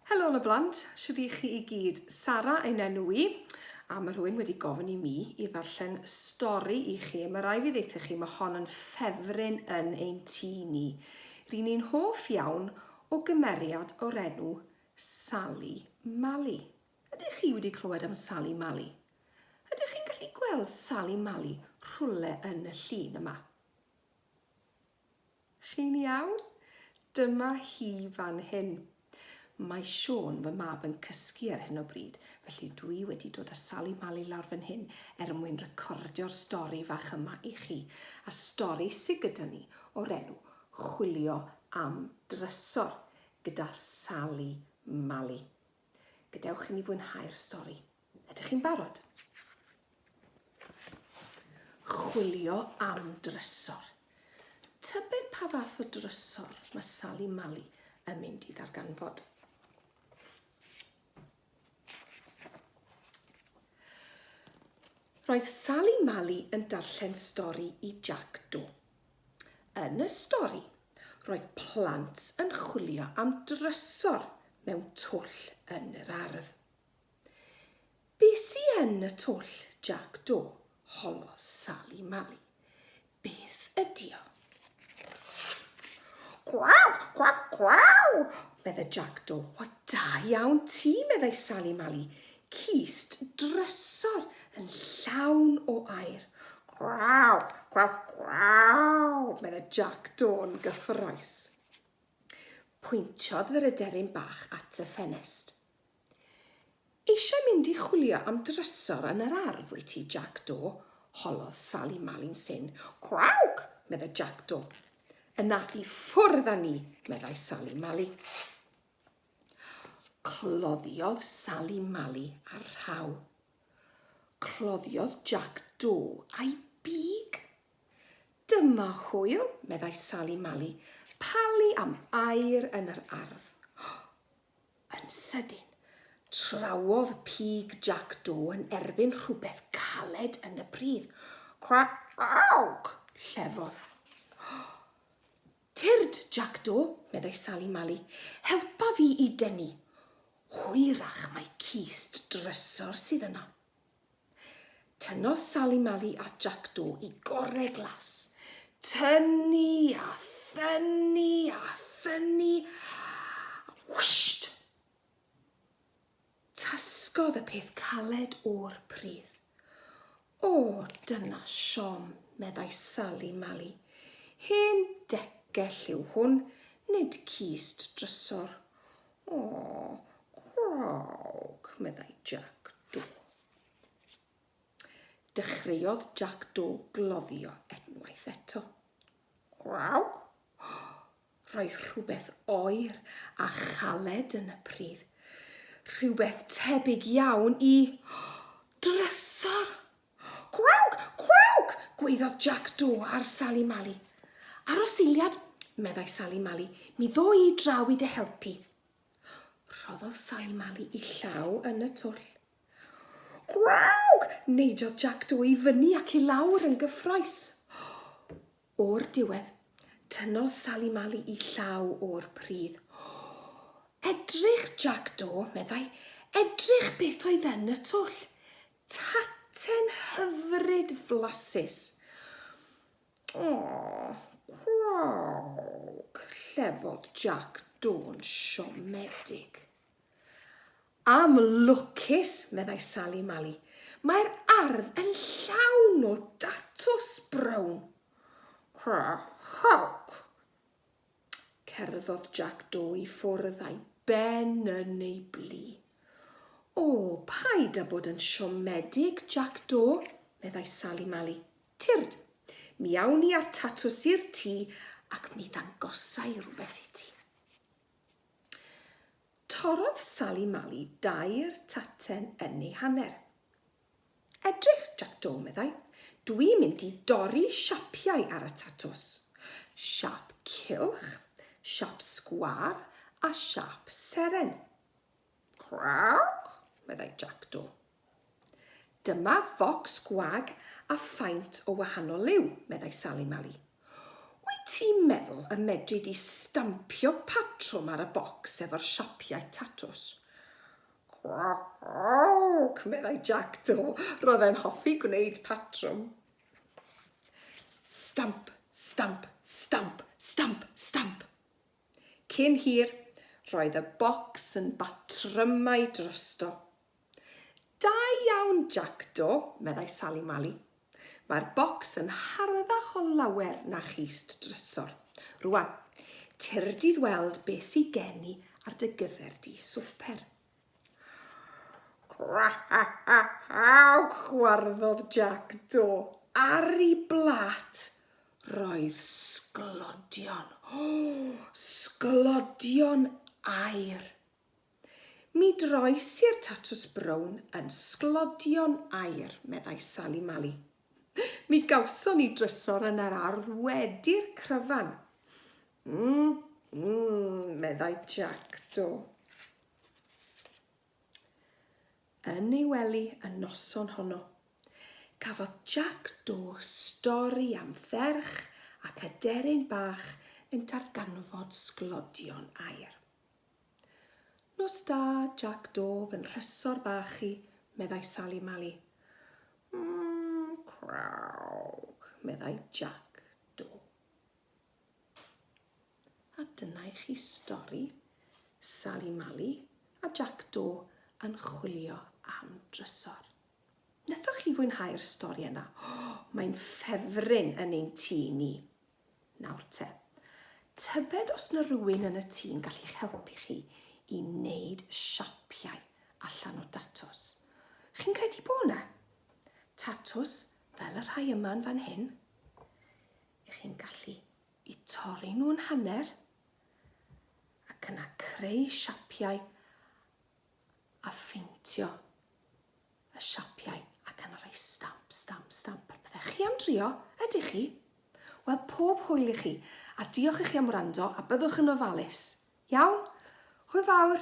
Helo y blant, sydd i chi i gyd? Sara ein enw i, a mae rhywun wedi gofyn i mi i ddarllen stori i chi. Mae rai fi ddeitha chi, mae hon yn ffefryn yn ein tŷ ni. Rydyn ni'n hoff iawn o gymeriad o'r enw Sally Mally. Ydych chi wedi clywed am Sali Mali? Ydych chi'n gallu gweld Sali Mali rhywle yn y llun yma? Chi'n iawn? Dyma hi fan hyn. Mae Siôn, fy mab, yn cysgu ar hyn o bryd, felly dwi wedi dod â Sali Mali lawr fan hyn er mwyn recordio'r stori fach yma i chi, a stori sy gyda ni o'r enw Chwilio am Drysor gyda Sali Mali. Gadewch i ni fwynhau'r stori. Ydych chi'n barod? Chwilio am drysor. Tybed pa fath o drysor mae Sally Mali yn mynd i ddarganfod. Roedd Sally Mali yn darllen stori i Jack Do. Yn y stori, roedd plant yn chwilio am drysor mewn twll yn yr ardd. Be sy yn y twll, Jac Do? holodd Sali Mali. Beth ydi o? Cwaw, cwaw, cwaw, medde Jac Do. O, da iawn ti, meddai Sali Mali. Cist drysor yn llawn o aer. Gwraw! Gwraw! Gwraw! medda Jac Dôn gyffrous. Pwyntiodd yr aderyn bach at y ffenest. Eisiau mynd i chwilio am drysor yn yr ardd, wyt ti, Jac Do? holodd Sali Mali'n syn. Gwrawg! medda Jac Do. Yna i ffwrdd â ni, meddai Sali Mali. Cloddiodd Sali Mali ar rhaw. Cloddiodd Jac Do a'i big. Dyma hwyl, meddai Sali Mali, palu am air yn yr ardd. Yn sydyn, trawodd pig Jac Do yn erbyn rhywbeth caled yn y pridd. Crac! Llefodd. Tyrd, Jac-Do, meddai Sali Mali, helpa fi i denu. Hwyrach mai cist drysor sydd yna. Tynnodd Sali Mali a Jac-Do i gorre glas. Tynnu a thynnu a thynnu. Whisht! Tasgodd y peth caled o'r pridd. O, dyna siom, meddai Sali Mali. Hen decell yw hwn, nid cist drysor. O, craog, meddai Jac Do. Dechreuodd Jac Do gloddio unwaith eto. Craog? Roedd rhywbeth oer a chaled yn y pridd, rhywbeth tebyg iawn i drysor! Gwawg! Gwawg! gwaeddodd Jac Do ar Sali Mali. Ar ôl seiliad, meddai Sali Mali, mi ddo i draw i dy helpu. Rhoddodd Sali Mali i llaw yn y twll. Gwawg! neidiodd Jac Do i fyny ac i lawr yn gyffroes. O'r diwedd, tynnodd Sali Mali i llaw o'r pridd. O! Edrych, Jac Do, meddai, edrych beth oedd yn y twll. Taten hyfryd flasus. O! Gwrrwg! llefodd Jac Do'n siomedig. Am lwcus, meddai Sali Mali, mae'r ardd yn llawn o datws brown. Cra chawc! Cerddodd Jac Do i ffwrdd a'i ben yn ei blu. O, paid â bod yn siomedig, Jac Do, meddai Sali Mali. Tyrd, mi awn ni â'r tatws i'r tŷ ac mi ddangosai rhywbeth i ti. Torrodd Sali Mali dair taten yn ei hanner. Edrych, Jac Do, meddai, dwi'n mynd i dorri siapiau ar y tatws. Siap cylch, siap sgwâr a siap seren. Craawc! meddai Jackdo. Dyma focs gwag a faint o wahanol liw, meddai Sali Mali. Wyt ti'n meddwl y medri di stampio patrwm ar y bocs efo'r siapiau tatws? Craawc! meddai Jackdo. Roedd e'n hoffi gwneud patrwm. Stamp, stamp, stamp, stamp, stamp. Cyn hir, roedd y bocs yn batrymau drosto. Da iawn, Jackdaw, meddai Sali Mali. Mae'r bocs yn harddach o lawer na chyst drysor. Rwan, tir dydd weld be sy gen i ar dy gyfer di swper. Crawch! gwarddod Jac Do. Ar i blat! Roedd sglodion, sglodion aer. Mi droes i'r tatws brown yn sglodion aer, meddai Sali Mali. Mi gawson ni drysor yn yr ardd wedi'r cryfan. Mm, mm, meddai Jack Do. Yn ei wely y noson honno, cafodd Jack Do stori am ferch ac aderyn bach yn darganfod sglodion air. Nos da, Jack Do, fy nhrysor bach i, meddai Sally Mali. Mmm, crawg, meddai Jack Do. A dyna i chi stori Sali Mali a Jac Do yn chwilio am drysor. Nethoch chi fwynhau'r stori yna? Oh, mae'n ffefryn yn ein tŷ ni. Nawr te, tybed os na rhywun yn y tŷ'n gallu'ch helpu chi i wneud siapiau allan o datws. Chi'n credu bod yna? Tatws fel y rhai yma'n fan hyn? Y'ch chi'n gallu i torri nhw'n hanner ac yna creu siapiau a pheintio y siapiau ac yna rhoi stamp, stamp, stamp ar pethau. Chi am drio? Ydych chi? Wel, pob hwyl i chi, a diolch i chi am wrando, a byddwch yn ofalus. Iawn? Hwyl fawr!